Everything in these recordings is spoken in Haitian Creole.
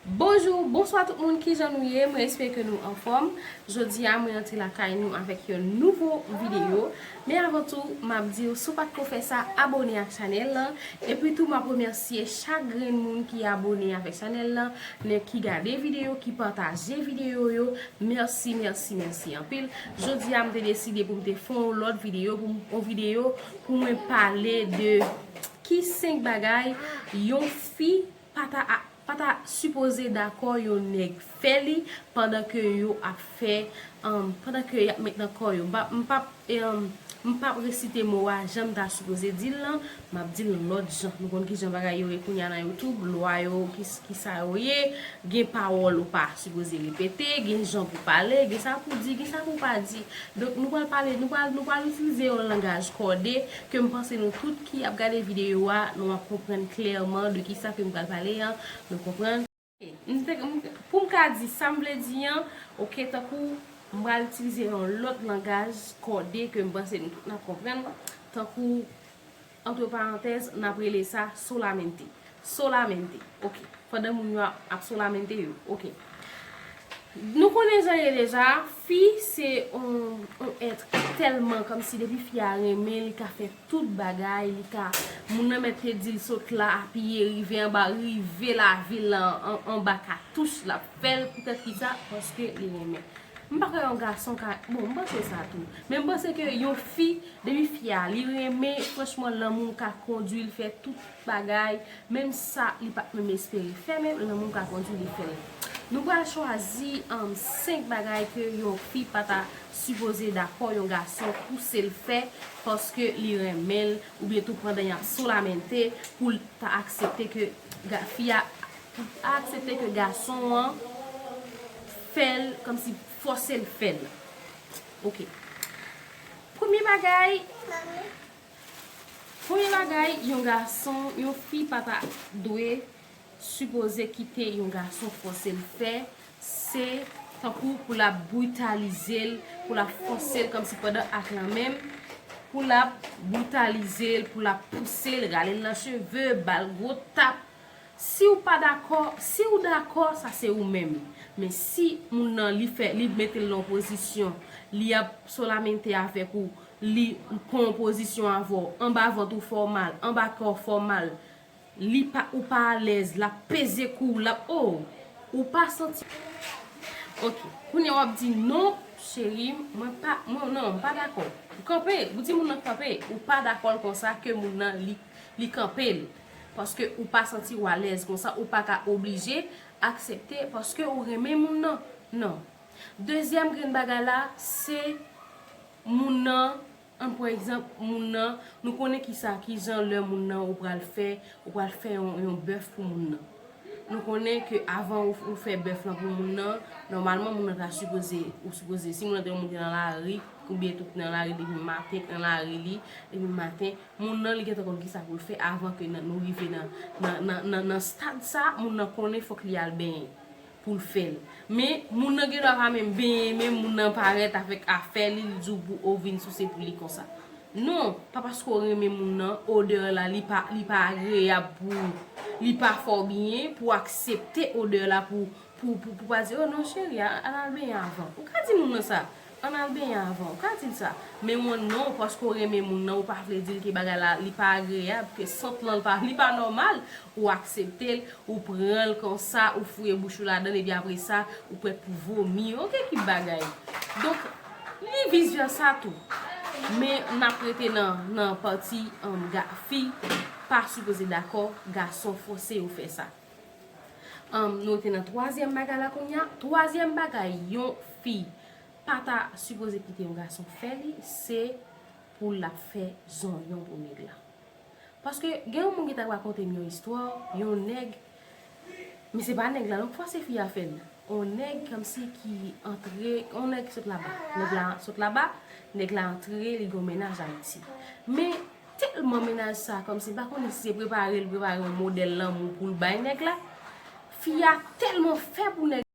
Bonjou, bonswa tout moun ki jan nou ye, mwen espere ke nou anfòm Jodi a mwen antre la kay nou avèk yon nouvo videyo Men avan tou, m ap di w si w pa t ko fè sa, abone ak chanèl lan E pi tou m ap remèsye chak grenn moun ki abone avèk chanèl lan Nèg ki gade videyo, ki pataje videyo yo, mèsi, mèsi, mèsi anpil Jodi a m te deside pou m te fè yon lòt videyo pou m yon videyo pou mwen pale de ki 5 bagay yon fi pa ta pa ta sipoze dakò yon nèg fè li pandan ke yo ap fè pandan ke y ap met nan kò yo m p ap m p ap resite mo a jan m ta sipoze di l lan Map dil yon lot jan nou konn kijan bagay yo ye kounya nan youtube lwa yo kisa yo ye gen pawol ou pa sipoze repete gen jan pou pale gen sa pou di gen sa pou pa di donk nou pral pale nou pral itilize yon langaj kode kem panse nou tout ki ap gade video a nou ap konprann klèman de kisa kem pral pale an nou konprann. Pou m ka di sa m vle di an, ok, tankou m pral itilize yon lòt langaj kòde ke m panse nou tout n ap konprann, tankou, antre parantèz, n ap rele sa solamente. Solamente. Ok. Pandan moun yo ap solamente yo. Ok. Nou konnen jan ye deja, fi se yon èt ki tèlman kòmsi depi fi a renmen li ka fè. Tout bagay li ka Moun nan mèt te dil sot la apiye rive anba rive lavil la anba katouch lap fèl poutèt kisa paske li renmen m pa kwè yon gason ka bon m panse sa tou men m panse ke yon fi depi fi a li renmen franchman lanmou ka kondwi l fè tout bagay menm sa li pat menm espere fè men lanmou ka kondwi li fèl nou pral chwazi 5 bagay ke yon fi pata sipoze dakò yon gason pouse l fè. paske li renmen l oubyen tou pandan yap solamente pou l pa aksepte ke fi a pou l pa aksepte ke gason an fè l kòmsi fòse l fè l ok premye bagay premye bagay yon gason yon fi pa ta dwe sipoze kite yon gason fòse l fè se tankou pou lap britalize l pou lap fòse l kòmsi pandan ak lan menm pou lap britalize l pou lap pouse l rale l nan cheve bal gwo tap siw pa dakò siw dakò sa se ou menm men si moun nan li fè li mete l nan yon pozisyon li ap solamente avèk ou li pran yon pozisyon avèw anba vant ou fè w mal anba kè w fè w mal Li pa ou pa alez lap peze kouw lap ooh ou pa santi. Ok kounya wap di non cheri mwen pa mwen non mpa dakò ou kanpe ou di moun nan kanpe ou pa dakòl konsa ke moun nan li li kanpel paske ou pa santiw alèz konsa ou paka oblije aksepte paske ou renmen moun nan non dezyèm grenn bagay la se moun nan Ann pran egzanp moun nan, nou konnen kisa, kijan lè moun nan ou pral fè, ou pral fè yon yon bèf pou moun nan. Nou konnen ke avan ou fè bèf lan pou moun nan, nòmalman moun nan ta sipoze, ou sipoze, si moun nan te yon moun ki te nan lari, oubyen tou ki nan lari depi maten, ki nan lari li, depi maten, moun nan li gentan konn kisa pou l fè avan ke nou rive nan nan nan nan stad sa, moun nan konnen fòk li al benyen. poul fèl men moun nan gen dwa pa menm benyen menm moun nan parèt avèk afè li li diw pou ou vin souse pou li konsa non pa paske ou renmen moun nan odè la li pa li pa agreyab pou ou li pa fè w byen pou aksepte odè la pou pou pou pa di oh non cheri a al al benyen avan ou ka di moun nan sa Ann al benyen avan. Ou ka di l sa. Men w non, paske w renmen moun nan, ou pa vle di l ke bagay la, li pa agreyab, ke sant lan li pa nòmal. Ou aksepte l, ou pran l konsa, ou fouye bouch ou ladan l, epi apre sa, ou prèt pou vomi. O ke ki bagay! Donk, ni vis vèsa tou. Men, n ap rete nan pati, fi pa sipoze dakò, gason fòse yo fè sa. Nou te nan twazyèm bagay la kounya. Twazyèm bagay yon fi pa ta sipoze kite yon gason fè li, se pou l ap fè zonyon pou nèg la. Paske gen yon moun ki ta rakonte m yon istwa, yon nèg, men se pa nèg la non, pafwa se fi a fè l. Yon nèg kòmsi ki antre, yon nèg ki sot laba, nèg la sot laba, nèg la antre li gen yon mennaj Ayiti. Men Tèlman mennaj sa kòmsi m pa konnen si se prepare l prepare yon modèl lanmou pou l bay nèg la. Fi a tèlman fè pou nèg la.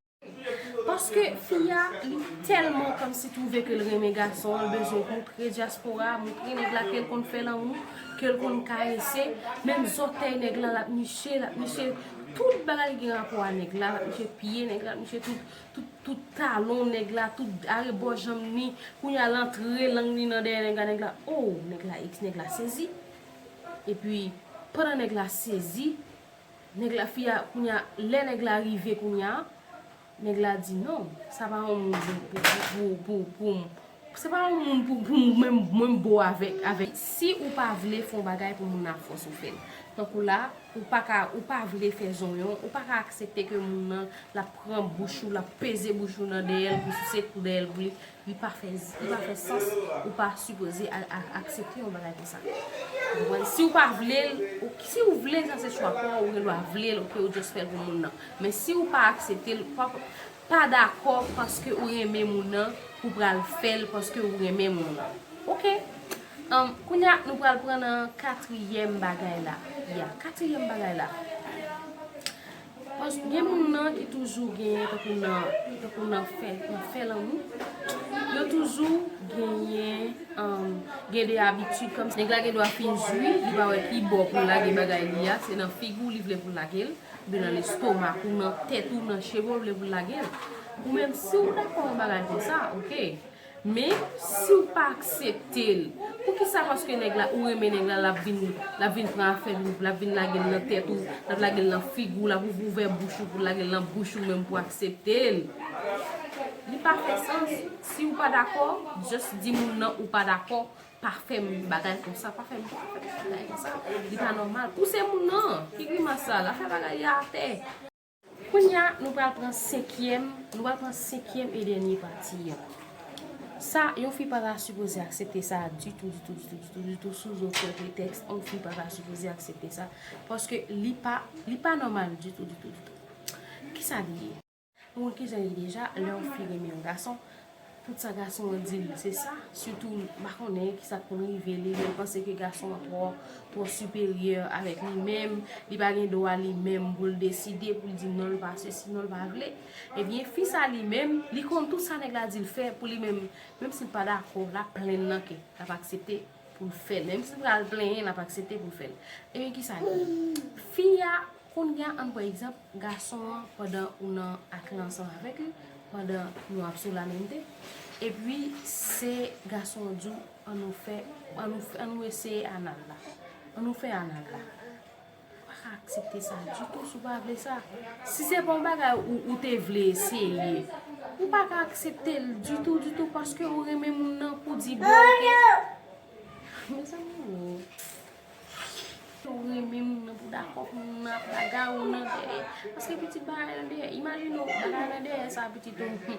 Paske fi a li tèlman kòmsi twouve ke l renmen gason an, l bezwen montre dyaspora a, montre nèg la ke l konn fè lanmou, ke l konn karese. Menm zòtèy nèg la l ap niche, l ap niche tout bagay ki gen rapò a nèg la, l ap niche pye nèg la, l ap niche tout. Tout talon nèg la tout arebò janm ni kounya l antre lang ni nan dèyè nèg la nèg la oo nèg la ex nèg la sezi epi pandan nèg la sezi nèg la fi a kounya lè nèg la rive kounya nèg la di non sa pa yon moun pou pou pou pou. Se pa yon moun pou mwen m bo avèk. Si ou pa vle fon bagay pou moun nan ap fòs ou fèl. Tankou la ou pa ka ou pa vle fè zonyon ou pa ka aksepte ke moun nan lap pran bouch ou lap peze bouch ou nan dèyèl pou souse kou dèyèl pou li li pa fè li pa fè sans ou pa sipoze aksepte yon bagay konsa ou konprann si ou pa vlel si ou vle sa se chwa paw ou gen dwa vlel ok ou just fèl pou moun nan men si ou pa akseptel pap Pa dakò paske ou renmen moun nan pou pral fèl paske ou renmen moun nan ok um kounya nou pral pran nan katriyèm bagay la ya katriyèm bagay la paske gen moun nan ki toujou genyen tankou nan tankou nan fè nan fè lanmou yo toujou genyen um gen de abitid kòmsi. Nèg la gendwa fin jwi li pa wè ki bò poul lage bagay li a se nan figou li vle poul lagel. Li nan lestomak ou, nan tèt ou, nan cheve ou vle pou l lage l. Ou menm si w dakò yon bagay konsa ok. Men, si w pa aksepte l, poukisa paske nèg la, ou renmen nèg la, l ap vin, l ap vin pran afè l, l ap vin lage l nan tèt ou, l ap lage l nan figi w, l ap ouvri ouvè bouch ou pou l lage l nan bouch ou menm pou w aksepte l. Li pa fè sans. Si w pa dakò, just di moun nan ou pa dakò Pa fem bagay konsa pa fem bagay konsa li pa normal pou se moun nan ki grimas sa la fè bagay li atè. Kounya nou pral pran senkyèm nou pral pran senkyèm e dènye pati an sa yon fi pa ta sipoze aksepte sa ditou ditou ditou ditou ditou sou zoken pretèks yon fi pa ta sipoze aksepte sa paske li pa li pa nòmal ditou ditou ditou kisa li ye. Ou wè kijan ye deja lè yon fi renmen yon gason tout sa gason an dil se sa sitou m pa konnen kisa k konn rive li li panse ke gason an twò twò siperyè avèk li menm li pa gen dwa li menm pou l deside pou l di non l pa sesi non l pa vle ebyen fi sa li menm li konn tout sa nèg la di l fè pou li menm menm si l pa dakò l ap plenn nan ke l ap aksepte. Poul fèl menm sil pral plenyen lap aksepte poul fèl ebyen kisa ki fi a kounya ann pran egzanp gason an pandan ou nan ak li ansanm avèk li pandan nou ap sou lamenmte epi se gason an diw annou fè annou fè annou eseye anal la annou fè anal la. Ou pa ka aksepte sa ditou si w pa vle sa. Si se pa yon bagay ou te vle eseye, ou pa ka aksepte l ditou ditou paske ou renmen moun nan pou w di bon ok. Mezanmi oo. Paske ou renmen moun nan pou w dakò pou moun nan ap bagarre w nan dèyè. Paske pitit bagay nan dèyè. Imajine w bagay nan dèyè sa pitit ou.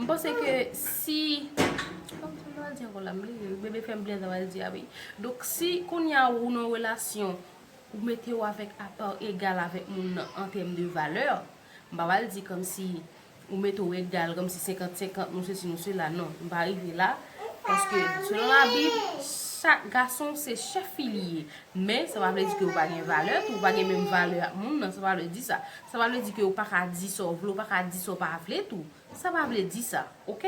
M panse ke si Bebe fèm bliye sa pral di a wi Donk si kounya ou nan yon relasyon Ou mete ou avèk a pa egal avèk moun nan an tèm de valè M pa pral di kòmsi Ou mete ou egal kòmsi senkant senkant nou sesi nou sela non M pa rive la Paske selon labib Chak gason se chèf fi li ye Men sa pa vle di ke ou pa gen valè tou Ou pa gen menm valè ak moun nan Sa pa vle di sa Sa pa vle di ke ou pa ka di sa w vle, ou pa ka di sa w pa vle tou. Sa pa vle di sa, ok.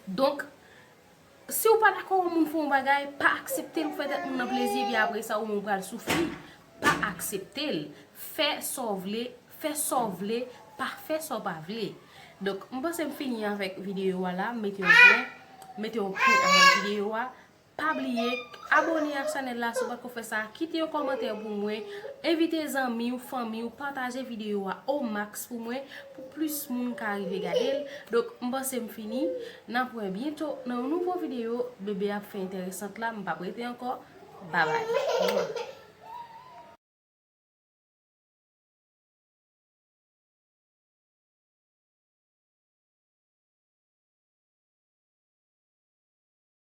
Donk, si ou pa dakò yon moun fè yon bagay, pa aksepte l, ou fè tèt moun nan plezi epi apre sa ou menm ou pral soufri. Pa aksepte l. Fè sa w vle, fè sa w vle, pa fè sa w pa vle. Donk, m panse m fini avèk videyo a la, m mete yon pwen, m mete yon pwen avèk videyo a. Pa bliye Abone ak chanel la si w patko fèsa kite yon kòmantè pou mwen Envite zanmi w fanmi w pataje video a au max pou mwen pou plis moun ka rive gade l Donk m panse m fini Nap wè byento nan yon nouvo video Bebe ap fè entèresant la m pap rete ankò Babay.